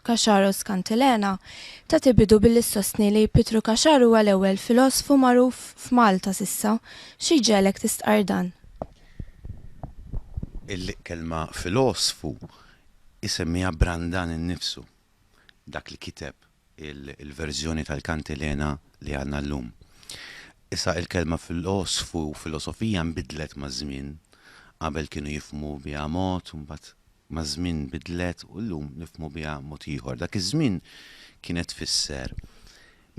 Cacharos Cantilena, tagħti bidu billi ssostni li Pietru Cacharu huwa l-ewwel filosfu magħruf f'Malta s'issa. Xi jġegħlek tistqarr dan? Il-kelma filosfu jsemmiha Brandan innifsu, dak li kiteb il-verżjoni tal-Cantilena li għandna llum. Issa il-kelma filosfu u filosofija nbidlet maż-żmien, qabel kienu jifhmu biha mod u mbagħad maż-żmien bidlet u llum nifhmu biha mod ieħor. Dak iż-żmien kienet tfisser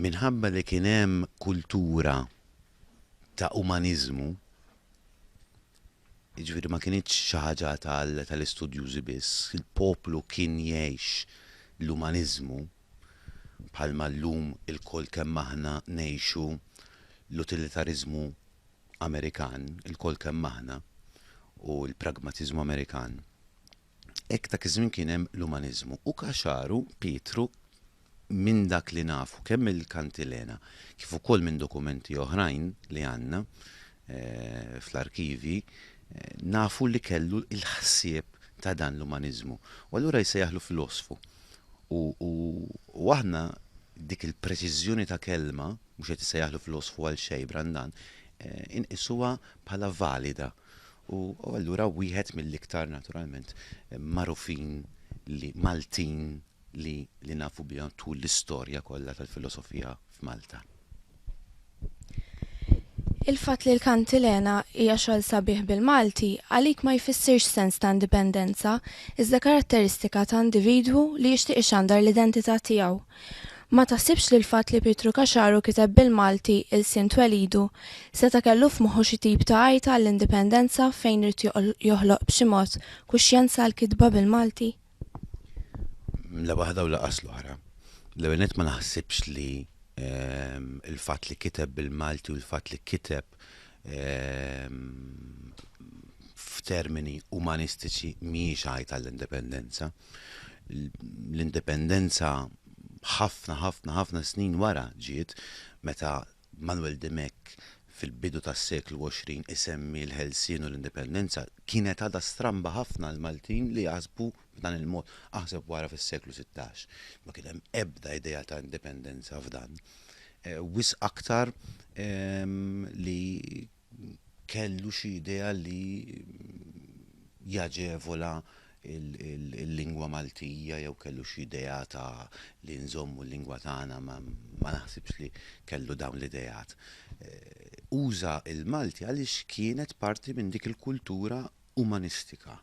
minħabba li kien hemm kultura ta' umaniżmu, jiġifieri ma kinitx xi ħaġa tal-istudjużi biss, il-poplu kien jgħix l-umaniżmu bħalma llum ilkoll kemm aħna ngħixu l-utilitariżmu Amerikan ilkoll kemm aħna u l-pragmatiżmu Amerikan, hekk dak iż-żmien kien hemm l-umaniżmu. U Caxaru, Pietru, minn dak li nafu kemm mill-kantilena kif ukoll minn dokumenti oħrajn li għandna fl-arkivji, nafu li kellu l-ħsieb ta' dan l-umaniżmu. U allura jsejjaħlu filosfu. U aħna dik il-preċiżjoni ta' kelma, mhux qed issejjaħlu filosfu għal xejn Brandan, inqisuha bħala valida u allura wieħed mill-iktar naturalment magħrufin li Maltin li li nafu bihom tul l-istorja kollha tal-filosofija f'Malta. Il-fatt li l-Kantilena hija xogħol sabiħ bil-Malti għalik ma jfissirx sens ta' indipendenza iżda karatteristika ta' individwu li jixtieq ixandar l-identità tiegħu. Ma taħsibx li l-fatt li Pietru Caxaru kiteb bil-Malti ilsien twelidu, seta' kellu f'moħħu xi tip ta' għajta għall-indipendenza fejn ried joħloq b'xi mod kuxjenza għall-kitba bil-Malti? La waħda u lanqas l-oħra. L-ewwel nett ma naħsibx li l-fatt li kiteb bil-Malti u l-fatt li kiteb f'termini umanistiċi mhijiex għajta l-indipendenza. L-indipendenza ħafna ħafna ħafna snin wara ġiet meta Manuel Dimech fil-bidu tas-seklu 20 isemmi l-ħelsien u l-indipendenza kienet għadha stramba ħafna l Maltin li jaħsbu f'dan il-mod. Aħseb wara fis-seklu 16. Ma kien hemm ebda idea ta' indipendenza f'dan. wisq aktar li kellu xi idea li jaġevola l-lingwa Maltija jew kellu xi idea ta' li nżommu l-lingwa tagħna ma naħsibx li kellu dawn l-ideat. Uża l-Malti għaliex kienet parti minn dik il-kultura umanistika.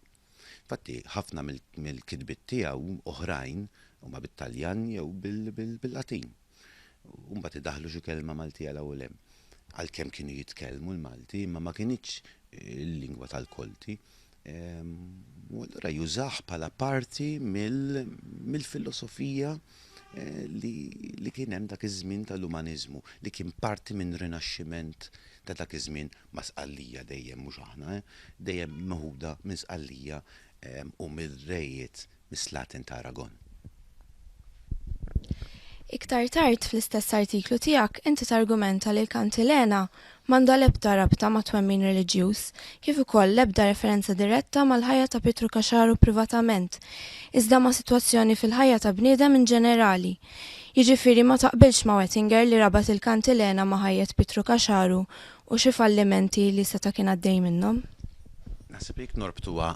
Infatti ħafna mill-kitbiet tiegħu oħrajn huma bit-Taljan jew bil-Latin. u mbagħad idaħħlu xi kelma Maltija 'l hawn u 'l hemm. Għalkemm kienu jitkellmu l-Malti, imma ma kinitx il-lingwa tal-Kolti. U allura jużah bħala parti mill-filosofija eh, li kien hemm dak iż-żmien tal-umaniżmu, li kien parti minn rinaxximent ta' dak iż-żmien ma' sqallija dejjem mhux aħna, eh, dejjem meħuda minn sqallija u mill-rejiet mis-Slaten ta' Aragon. Iktar tard fl-istess artiklu tiegħek inti targumenta li l-kantilena m'għandha l-ebda rabta ma' twemmin reliġjuż, kif ukoll l-ebda referenza diretta mal-ħajja ta' Pietru Caxaru privatament, iżda ma' sitwazzjoni fil-ħajja ta' bniedem in ġenerali. Jiġifieri ma taqbilx ma' Wettinger li rabat il-kantilena ma' ħajjet Pietru Caxaru U xi fallimenti li seta' kien għaddej minnhom? Naħseb li jekk norbtuha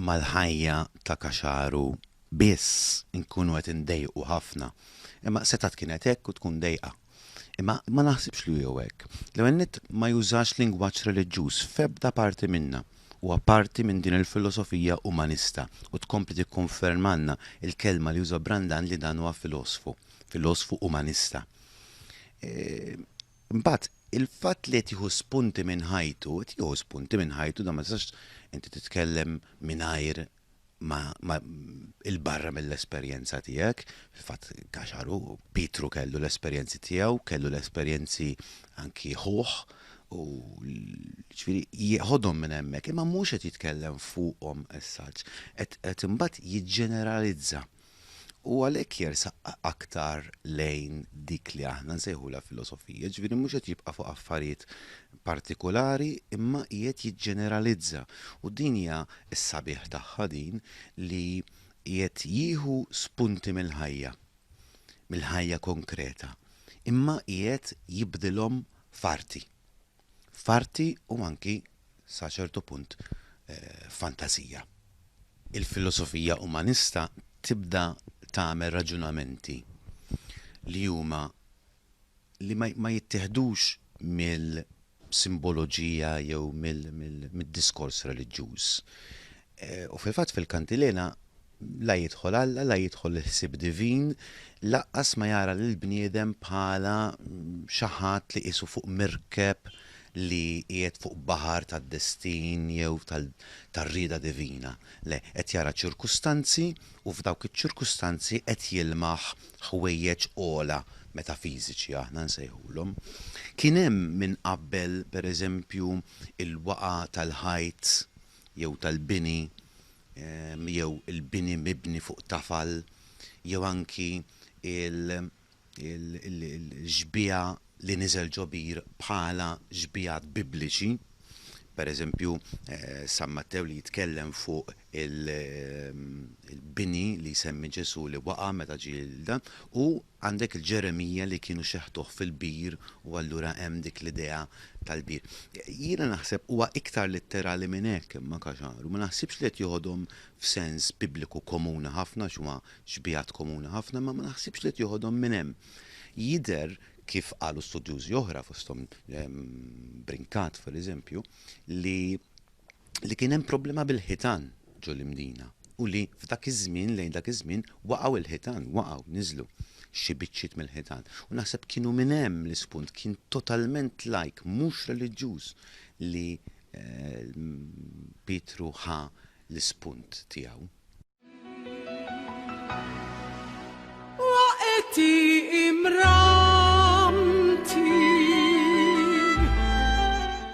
mal-ħajja ta' Caxaru biss inkunu qed indejqu ħafna. Imma setgħet kienet hekk u tkun dejqa. Imma ma naħsibx li hu hekk. L-ewwel nett ma jużax lingwaġġ reliġjuż f'ebda parti minnha. Huwa parti minn din il-filosofija umanista u tkompli tikkonfermalna l-kelma li juża Brandan li dan huwa filosfu, filosfu umanista. Imbagħad, il-fatt li qed jieħu spunti minn ħajtu, qed jieħu spunti minn ħajtu, dan ma tistax inti titkellem mingħajr ma ma 'il barra mill-esperjenza tiegħek, fil-fatt Kaxar hu, Pietru kellu l-esperjenzi tiegħu, kellu l-esperjenzi anki ħuh u ġifieri jieħodhom minn hemmhekk, imma mhux qed jitkellem fuqhom as such, qed qed imbagħad jiġġeneralizza. U għalhekk jersaq aktar lejn dik li aħna nsejħulha filosofija, ġifieri mhux qed jibqa' fuq affarijiet partikulari imma qiegħed jiġġeneralizza. U din hija s-sabiħ tagħha din li qiegħed jieħu spunti mill-ħajja, mill-ħajja konkreta, imma qiegħed jibdilhom f'arti. f'arti u anki sa ċertu punt f'fantażija. Il-filosofija umanista tibda tagħmel raġunamenti li huma li ma ma jittieħdux mill-simboloġija jew mill-diskors reliġjuż. U fil-fatt fil-kantilena la jidħol Alla, la jidħol il-ħsieb divin, lanqas ma jara lill-bniedem bħala xi ħadd li qisu fuq mirkeb li qiegħed fuq baħar tad-destin jew tar-rieda divina. Le, qed jara ċirkustanzi u f'dawk iċ-ċirkustanzi qed jilmaħ ħwejjeġ ogħla metafiżiċi aħna nsejħulhom. Kien hemm minn qabel, pereżempju, il-waqgħa tal-ħajt jew tal-bini jew il-bini mibni fuq tafal jew anki l-xbieha li niżel ġo bir bħala xbiehat Bibliċi, per eżempju San Mattew li jitkellem fuq il-bini li jsemmi Ġesù li waqa' meta ġie u Għandek il-Ġeremija li kienu xeħtuh fil-bir u allura hemm dik l-idea tal-bir. Jiena naħseb huwa iktar litterali minn hekk imma Caxar u ma naħsibx li qed joħodhom f'sens bibliku komuni ħafna għax huwa xbiehat komuni ħafna imma ma naħsibx li qed joħodhom minn hemm. Jidher kif qalu studjużi oħra fosthom Brincat per eżempju li li kien hemm problema bil-ħitan ġo l-Imdina u li f'dak iż-żmien, lejn dak iż-żmien, waqgħu l-ħitan, waqgħu, niżlu, xi biċċiet mill-ħitan. U naħseb kienu minn hemm l-ispunt, kien totalment lajk, mhux reliġjuż li Pietru ħa l-ispunt tiegħu. Waqgħeti imramti.